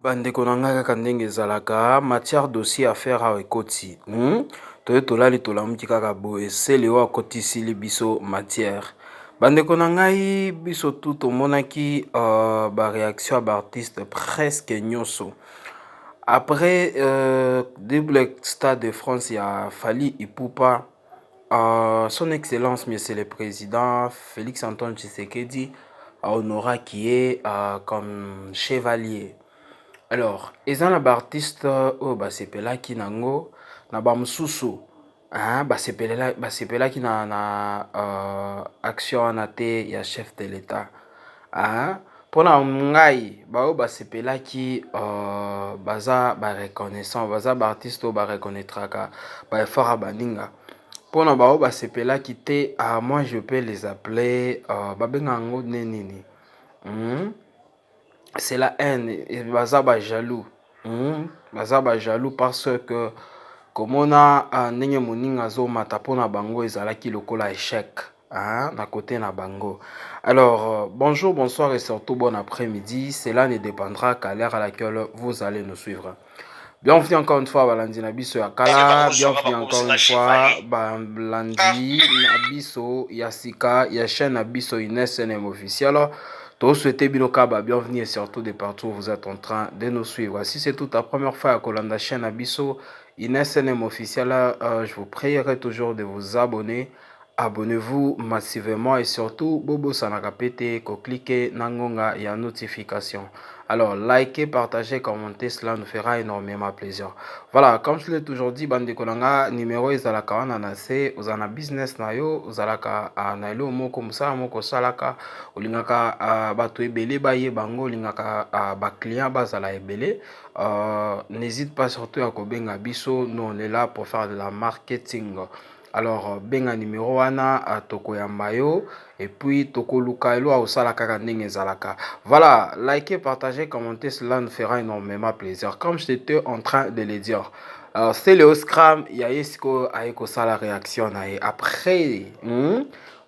Ba ndeko na ngai kaka ndenge ezalaka matière dossier affaire awa ekoti hmm? toye tolali tolamuki kaka boye sele oyo akotisili biso matière bandeko na ngai biso tu tomonaki uh, baréaction ya baartiste presque nyonso après uh, double stade de france ya fali ipupa Son excellence monsieur le president Felix Antoine Tshisekedi a honoraki ye comme chevalier, alors eza na ba artistes oyo basepelaki na yango na ba mosusu basepelaki na action wana te ya chef de l'etat. Ahh pona ngai ba oyo ba sepelaki ooh baza ba reconnaissant baza ba artiste oyo ba reconnaitraka ba effort ya ba ninga pona ba oyo ba sepelaki te ahh moi je peux les appeler ooh ba benga yango nde nini? Hum c'est la haine baza ba jaloux. Hum baza ba jaloux parce que komona ah, ndenge moninga azomata mpo na bango ezalaki lokola echec ah, na kote na bango. Alors euh, bonjour, bonsoir et surtout bon après-midi. Cela ne dépendra qu'à l'heure à laquelle vous allez nous suivre. Bienvenue encore une fois balandi na biso ya kala, bienvenue encore une fois balandi na biso ya sika ya chaîne na biso Ines NM officiel. To souhaite bino ka ba bienvenue et surtout de partout vous êtes en train de nous suivre. Si c'est toute la première fois ya kolanda chaîne na biso INSNM officiel, euh, je vous prierai toujours de vous abonner. Abonnez-vous massivement et surtout bobosanaka pe te ko cliquer na ngonga ya notification. Alors, likez, partagez, commentez, cela nous fera énormément plaisir. Voilà, comme je l'ai toujours dit, bande konanga, numéro ezalaka wana na se, ozana business na yo, ozalaka na elo moko, musala moko salaka, Olingaka batu ebele ba yeba ngo olingaka ba clients ba zala ebele n'hesite pas surtout ya ko benga biso nous on est là pour faire de la marketing alors benga numero wana toko yamba yo et puis toko luka elo ya osala kaka ndenge ezalaka voilà like partager commenter cela nous fera énormément plaisir comme je te en train de le dire alors c'est le scram ya ye sikoyo aye kosala réaction na ye après hmm?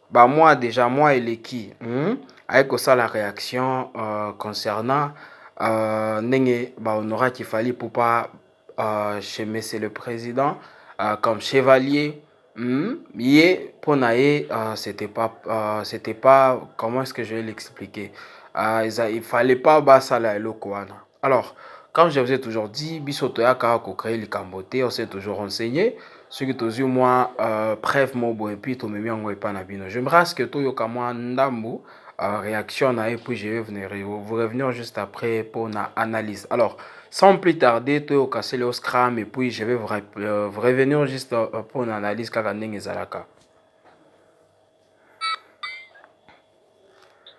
ba mois dejà mois eleki hum aye kosala reaction uh, concernant uh, ndenge ba honoraki Fally Ipupa uh, chez monsieur le président uh, comme chevalier hum ye pona ye uh, c'était pas uh, c'était pas comment est-ce que je vais l'expliquer uh, il fallait pas basala eloko wana Alors comme je vous ai toujours dit, biso toyaka ko créer likambo te, on s'est toujours renseigné. Soki tozwi mwa euh, preuve moko boye puis tomemi yango epai na bino. J'aimerais à ce que toyoka mwa ndambu euh, réaction na ye puis je vais venir vous revenir juste après pour na analyse. Alors sans plus tarder toyoka Celeo Scram et puis je vais vous, rep- euh, vous revenir juste euh, pour na analyse kaka ndenge ezalaka.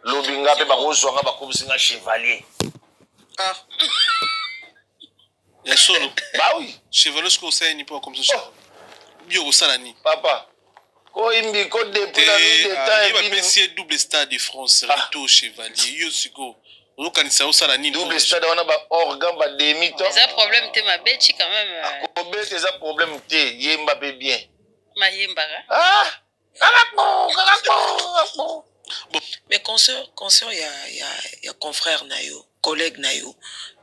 lobi nga pe bakozwa nga bakomisi nga chevalier ah. ya solo bawi bah chevalier soki osali nini po akomisa oh. chevalier bi okosala nini papa koyimbi ko depuis la nuit de temps ah, bapesi ye double stade de france ah. retour chevalier yo sikoyo ozokanisa osala nini double stade wana ba organ ba demi temps eza problème te mabechi quand même euh. akobeta eza problème te yemba pe bien mayembaka ah Mais consort consort ya ya ya confrère na yo collègue na yo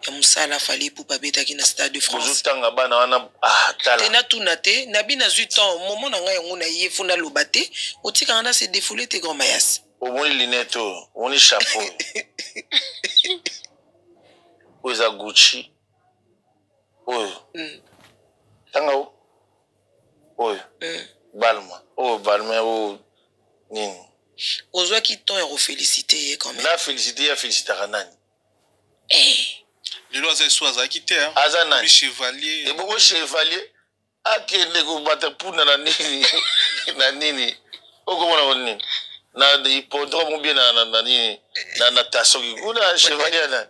ya musala Fally Ipupa abetaki na stade de France bozo tanga bana wana ah tala te na tuna te na bi nazui temps moment na ngai yango naye faut na loba te otika nga na se defouler te grand mayas omoni lunette oyo omoni chapeau oyo oyo eza Gucci oyo tanga o oyo balm oyo balm oyo nini. Ozwaki temps ya ko feliciter ye quand meme. Na feliciter ye a felicitaka nani? Ehh. Lelo aza esu azalaki te hein. Aza nani? Akomi chevalier. Ebongo chevalier akende kobata punda na nini na nini okomona ngo nini na hippodrome ou bien na nini na natation kuna chevalier ya nani?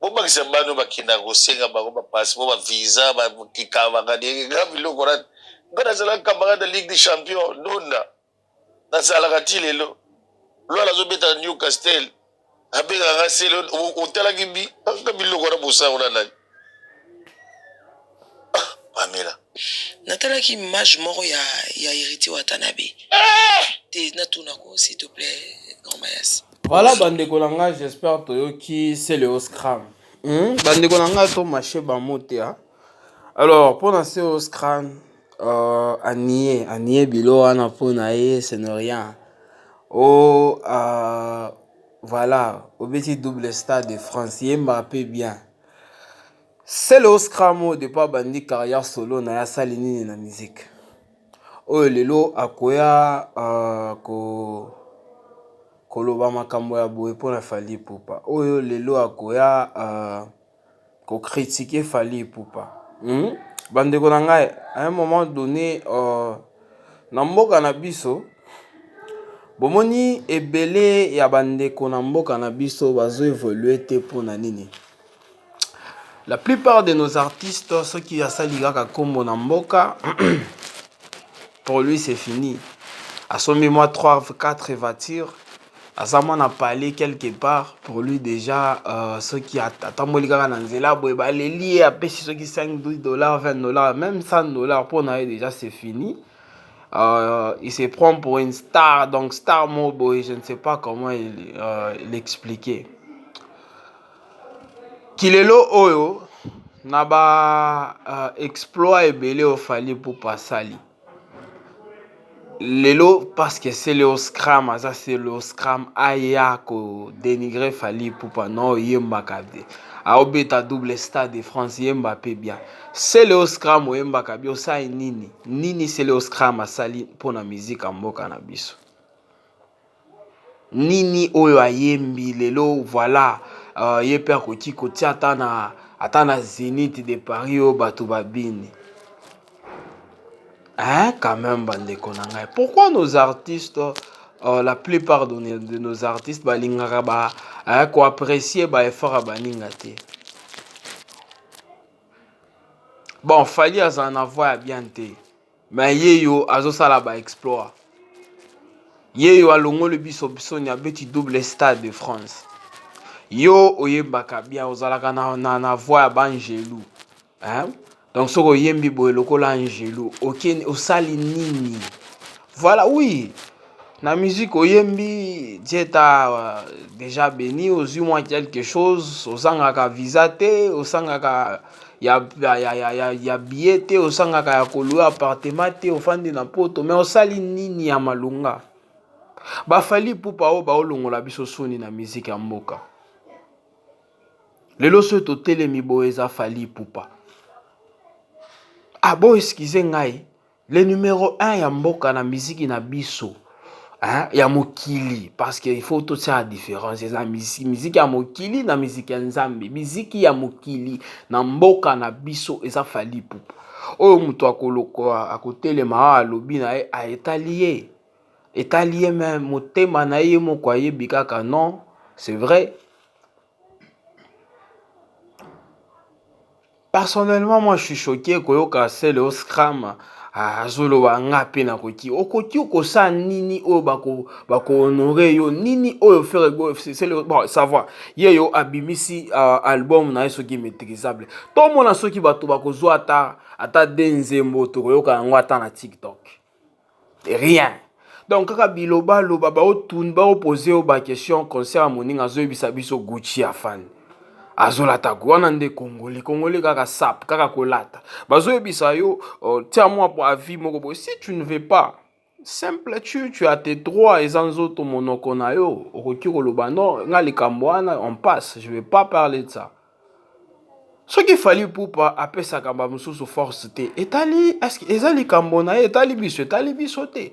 Bobakisa bana oyo bakendaka kosenga bango ba passeport, ba visa, ba kikabanga de nga biloko wana nga nazalaka camarade ya ligue des champions ndonda nazalaka ti lelo luala azobeta na Newcastle abengaka nga sele otalaki bi nga biloko wana bosango na nani? Pamela. Natalaki image moko ya ya heritier watanabe te natuna ko s'il te plait grand mayas. Voilà ba ndeko na nga j'espère toyoki Celeo Scram. Hmm? Ba ndeko na nga to marche ba mots te hein. Alors pona Celeo Scram euh, anie anie bilo wana pona ye ce ne rien. Oh euh, voilà obeti double stade de France yemba pe bien. Celeo scram oyo depuis abandi carrière solo naye asali nini na musique oyo lelo akoya uh, ko koloba makambo ya boye mpo na Fally Ipupa oyo lelo akoya uh, ko critiquer Fally Ipupa hmm? bandeko na ngai à un moment donné uh, na mboka na biso bomoni ebele ya bandeko na mboka na biso bazo evolue te mpo na nini La plupart de nos artistes soki asali kaka kombo na mboka pour lui c'est fini. Asombi mwa 3 4 voitures aza mwana palais quelque part pour lui déjà euh, soki atamboli kaka na nzela boye baleli ye apesi soki 5 12 dollars 20 dollars même 100 dollars mpo na ye déjà c'est fini. Euh, il se prend pour une star donc star mo boye je ne sais pas comment il, euh, l'expliquer. Ti lelo oyo na ba exploit ebele oyo fally ipupa asali lelo parceke celeo scram aza celeo scram aya ko denigre fally ipupa no oyembaka te aobeta double stade de france yemba pe bia celeo scram oyembaka bia osali nini nini celeo scram asali mpona miziki ya mboka na biso. Nini oyo ayembi lelo voila ye pe akoki kotia ata na zenith de paris oyo batu ba bini hein quand meme ba ndeko na ngai pourquoi nos artistes la plus part de nos artistes ba lingaka ko apprecie ba efforts ya ba ninga te? bon Fally azala na voix ya bien te me yeyo azosala ba exploit yeyo alongoli biso bisoni abeti double stade de france yo oyembaka bien ozalaka na, na, na voix ya baangelu hein? donc soki oyembi boye lokola angelu okeni osali nini voilà oui Na musique oyembi Dieu t'a dejà beni ozwi mwa quelque chose ozangaka visa te osangaka ya, ya, ya, ya, ya, ya billet te osangaka ya kolua appartement te ofandi na poto mais osali nini ya malonga ba Fally Ipupa oyo baolongola biso soni na musique ya mboka lelo soki totelemi boye eza Fally Ipupa abo excuse ngai Le numero un ya mboka na miziki na biso hein, ya mokili parce que il faut totiaka différence eza miziki ya mokili na miziki ya nzambe miziki ya mokili na mboka na biso eza fali pupa oyo moto akolokoa akotelema awa alobi na ye aetali ye etali ye me motema na ye moko ayebi kaka non c'est vrai Personnellement moi je suis choque koyoka celeo scram azoloba nga pe nakoki okoki okosala nini oyo bako bako honore yo nini oyo ferre gola celeo bon ça va ye yo abimisi uh, album na ye soki maîtrisable tomona soki bato bakozwa ata ata de nzembo tokoyoka yango ata na tiktok rien donc kaka biloba loba bao tun bao pose yo ba question concert ya moninga azo yebisa biso Gucci afandi azo lata wana nde congolais congolais kaka sap kaka kolata bazo yebisa yo uh, tia mwa po avis moko boye si tu ne veux pas simple tu tu as tes droits eza nzoto monoko na yo okoki koloba non nga likambo wana on passe je vais pas parler de ça soki fali pupa apesaka ba mususu force te etali eza likambo na ye etali biso etali biso te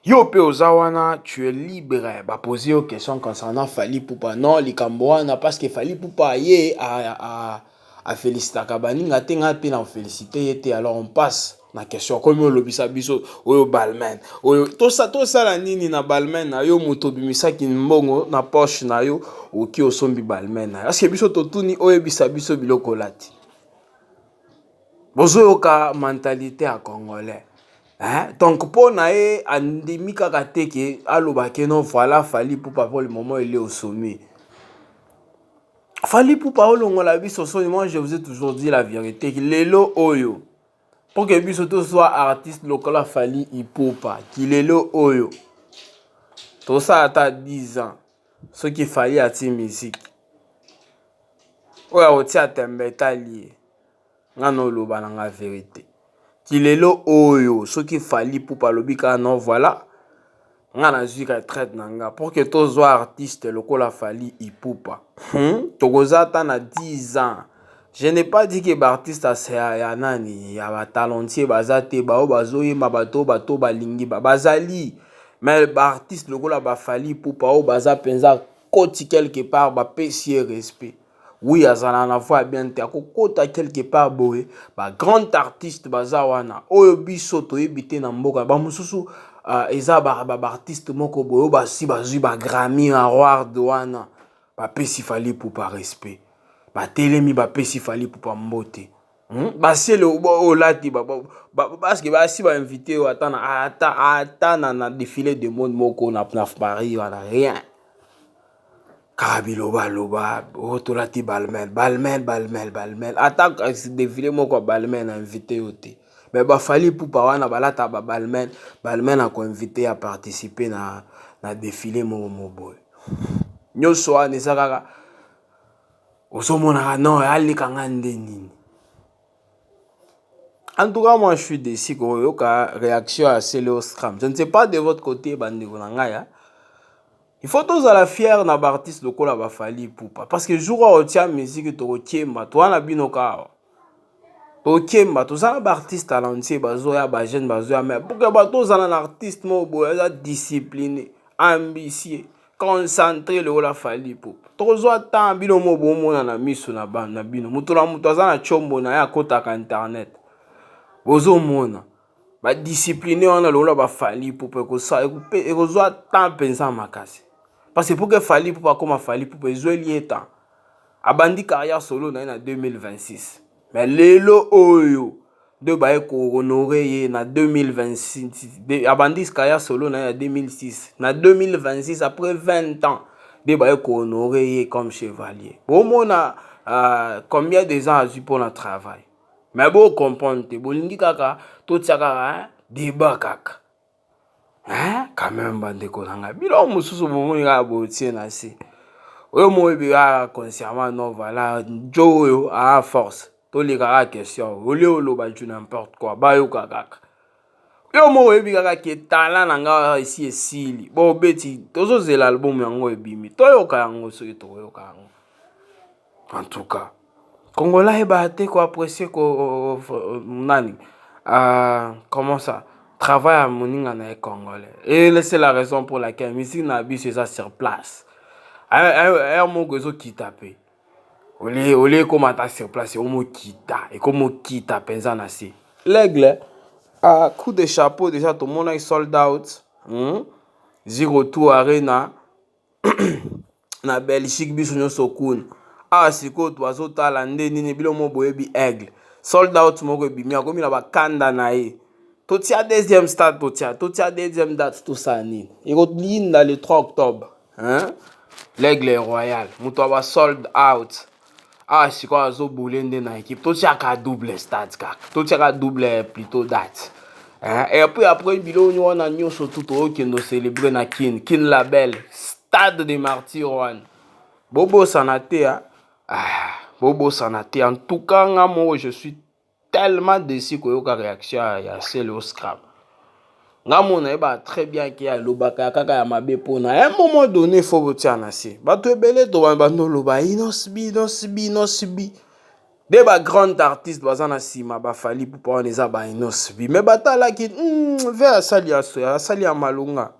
yo pe oza wana tu es libre ba poser yo question concernant fali pupa non likambo wana parce que fali pupa ye a, a, a, a felicitaka baninga te ngai pe na felicite ye te alors on passe na question okomi olobisa biso oyo balmain oyo tosa tosala nini na balmain na yo moto obimisaki mbongo na poche na yo oki osombi balmain na yo aske biso totuni oyebisa biso biloko olati bozoyoka mentalite ya congolais hein? donc mpo na ye andimi kaka te ke aloba ke non voilà fali mpo papa le moment ele osomi fali mpo pa olongola biso soni moi je vous ai toujours dit la vérité lelo oyo Pour que biso to zwa artiste lokola Fally Ipupa kilelo oyo tosala ata 10 ans soki Fally atie musique oyo akotia tembe etali ye nga noloba na nga verite kilelo oyo soki Fally Ipupa alobi kaka non voilà nga nazwi retraite na nga pour que tozwa artiste lokola fali ipupa hmm? tokoza ata na 10 ans je n'ai pas dit que baartiste ya, ya nani ya batalentier baza te baoyo bazoyemba bato oyo bato balingi ba bazali mais baartiste lokola bafali ipupa oyo baza mpenza koti quelque part bapesi ye respect Oui azala na voix ya bien te ako kota quelque part boye ba grand artiste baza wana oyo biso toyebi te na mboka ba mususu eza ba artiste moko boye oyo basi bazui ba Grammy award wana ba pesi Fally Ipupa respect ba telemi ba pesi Fally Ipupa mbote. Hum basi ele obo olati ba parce que basi ba invite yo ata na ata ata na na défilé de mode moko na na Paris wana rien kaka biloba loba oh tolati balmain balmain balmain balmain ata défilé moko ya balmain na invite yo te mais ba Fally Ipupa wana balata ba balmain balmain na ko invite ya participer na na défilé moko mo boye nionso wana eza kaka ozomonaka no aleka nga nde nini en tout cas moi je suis déçu koyoka réaction ya celeostram je ne sais pas de votre côté bandeko na ngai ya il faut tozala fier na baartiste lokola bafali ipupa parce que jour oyo otia musique tokokemba toa na bino kaawa tokemba toza na baartiste talentie bazoya bajeune bazoya mai pourke bato ozala na artiste moko boye aza discipline ambisie concentre lokola fali po tokozwa temps bino mo bomona na miso na bana na bino moto na moto aza na chombo na ye akotaka internet bozomona badiscipline wana lokola bafali pupa ekozwa temps mpenza makasi parce pourke fali pupa akoma fali pupa ezweli ye temps Abandi carrière solo naye na 2026 mais lelo oyo nde baye ko honorer ye na 2026 abandi carrière solo naye na 2006 na 2026 après 20 ans nde baye ko honorer ye comme chevalier bomona uh, combien des ans azwi mpo na travail mais bo comprendre te bolingi kaka totia kaka hein, debat kaka Hein quand meme ba ndeko na nga biloko mosusu bo moni kaka bo tie na se oyo mo yebi kaka consciemment non voilà djo oyo aa force to leka kaka question au lieu o loba du n'importe quoi ba yoka kaka. Yo moko o yebi kaka que talent na nga esi e sili bo beti tozo zela album yango e bimi to yoka yango soki toko yoka yango. en tout cas congolais ayebaka te ko apprécier ko nani euh, comment ça travail ya moninga na ye congolais et c'est la raison pour laquelle musique na biso eza sur place heure moko ezokita mpe olie olie ekoma ata sur place ekomokita ekomokita mpenza na se l'aigle uh, coup de chapeau déjà tomonaki sold out hmm? zero two arena na Belgique biso nyonso kuna awa sikoyo twazotala nde nini bino mo boyebi aigle sold out moko ebimi akomi na bakanda na ye totia deuxième stade totia totia deuxième date tosala nini ekolinda le 3 octobre hein? l'aigle royal moto ya ba sold out awa sikoyo azo boule nde na ekipe totiaka double stade kaka totiaka double plutot date eh, epuis après biloko wana nyonso tu tookende ocelebre na kin kin label stade de martyr wana bobosana te ah, bobosana te en tout cas nga moko je suis Tellement deçu koyoka reaction ya sele oscar nga mona ye ba très bien ke alobaka kaka ya mabe pona un moment donné faut botia na se bato ebele to ba bando loba inosbi inosbi inosbi de ba grande artiste baza na sima ba fali pupa wana eza ba inosbi mais batalaki mm, ve asali ya soya asali ya malonga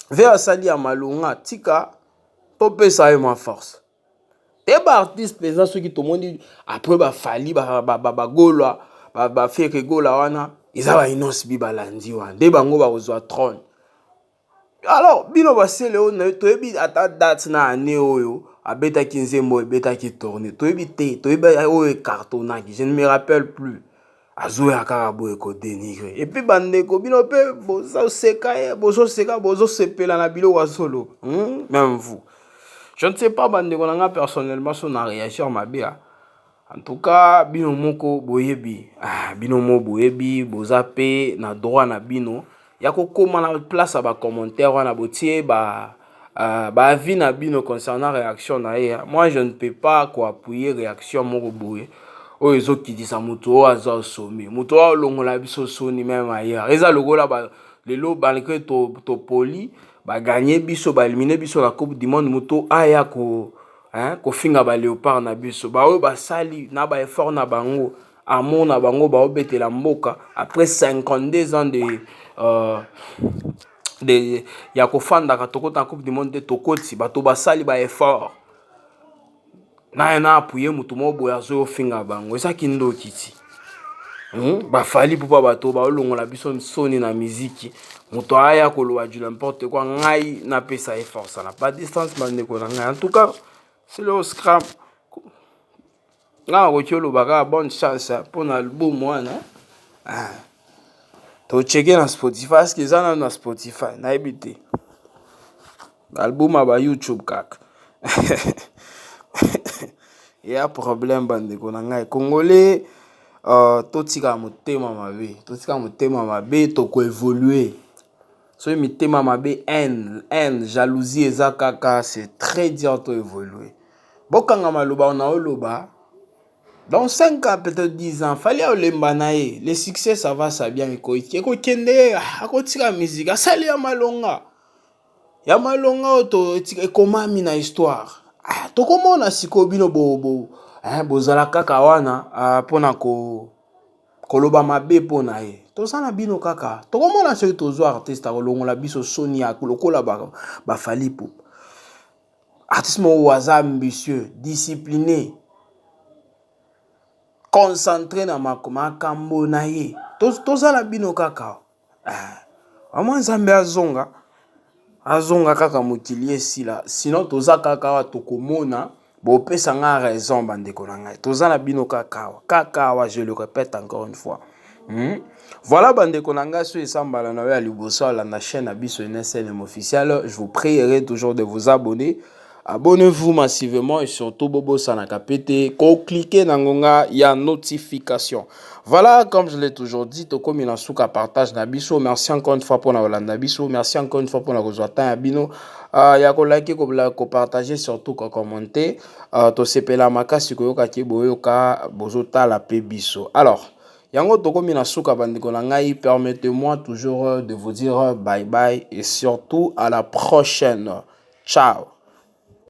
ve asali ya malonga tika topesa ye ma force Te ba artiste penza soki tomoni après ba Fally ba Gola ba Ferre Gola wana eza ba Innoss'B balandi wana nde bango bakozwa trone alors bino ba sele oyo toyebi ata date na annee oyo abetaki nzembo oyo ebetaki tourne toyebi te toyebi oyo e cartonaki je ne me rappelle plus. azoya kaka boye ko denigre epuis bandeko bino mpe bozoseka ye bozoseka bozosepela na biloko azoloba hmm? meme vous je ne sais pas bandeko na ngai personnellement so na réagir mabe ya en tout cas bino moko boyebi ah, bino moko boyebi boza mpe na droit na bino ya kokoma na place ya bacommentaire wana botie ba uh, baavis na bino concernant réaction na ye moi je ne peux pas koappuye réaction moko boye oyo ezokitisa moto oyo aza osomi moto oyo olongola biso soni meme ailleurs eza lokola ba, lelo malgré topoli to baganye biso baelimine biso na coupe du monde moto aya ko hein, kofinga baleopard na biso baoyo basali na baeffort na bango amona bango baobetela mboka après 52 ans de uh, de ya kofandaka tokota na coupe du monde te tokoti bato basali ba effort naye na apuye motu moko boye azoya ofinga bango eza kindoki ti hmm? bafali pupa bato baolongola biso nsoni na miziki moto aya koloba du n'importe quoi ngai napesa ye force na ba distance bandeko na ngai en tout cas c'est le scram Nga nakoki oloba kaka bonne chance mpo na album wana to cheke na Spotify parce que eza nanu na Spotify nayebi te ba album ya ba YouTube kaka eya problème ba ndeko na ngai congolais totika motema mabe totika motema mabe toko evoluer. Soki mitema mabe haine, haine, jalousie eza kaka c'est très dur to evoluer. Bokanga maloba na oloba dans 5 ans peut-être 10 ans fallait olemba na ye le succès ça va ça bien ekoki ekokende ye akotika musique asali ya malonga ya malonga oyo to ekomami na histoire ah, tokomona sikoyo bino bo, bo, eh, bozala kaka wana ah, mpona ko koloba mabe mpo na ye toza na bino kaka tokomona soki tozwa artiste akolongola biso soni ya lokola bafalipo artiste moko aza ambitieux discipline concentre na makambo na ye toza na bino kaka Vraiment nzambe azonga, azonga kaka mokili esila sinon toza kaka awa tokomona bopesa nga raison ba ndeko na ngai toza na bino kaka awa kaka awa je le repete encore une fois hum voilà ba ndeko na ngai soki eza mbala na yo ya liboso olanda chaine na biso Enes Elem Officiel je vous prierai toujours de vous abonner. Abonnez vous massivement et surtout bobosana kapete ko cliquer na ngonga ya notification. Voilà, comme je l'ai toujours dit, tokomi na suka partage na biso. Merci encore une fois pour na olanda biso. Merci encore une fois pour na kozwa temps ya bino. Uh, ya ko liker, ko, ko partager surtout ko commenter. Uh, tosepela makasi koyoka ke boyoka bozotala pe biso. Alors, Yango tokomi na suka bandeko na ngai permettez moi toujours euh, de vous dire euh, bye bye et surtout à la prochaine ciao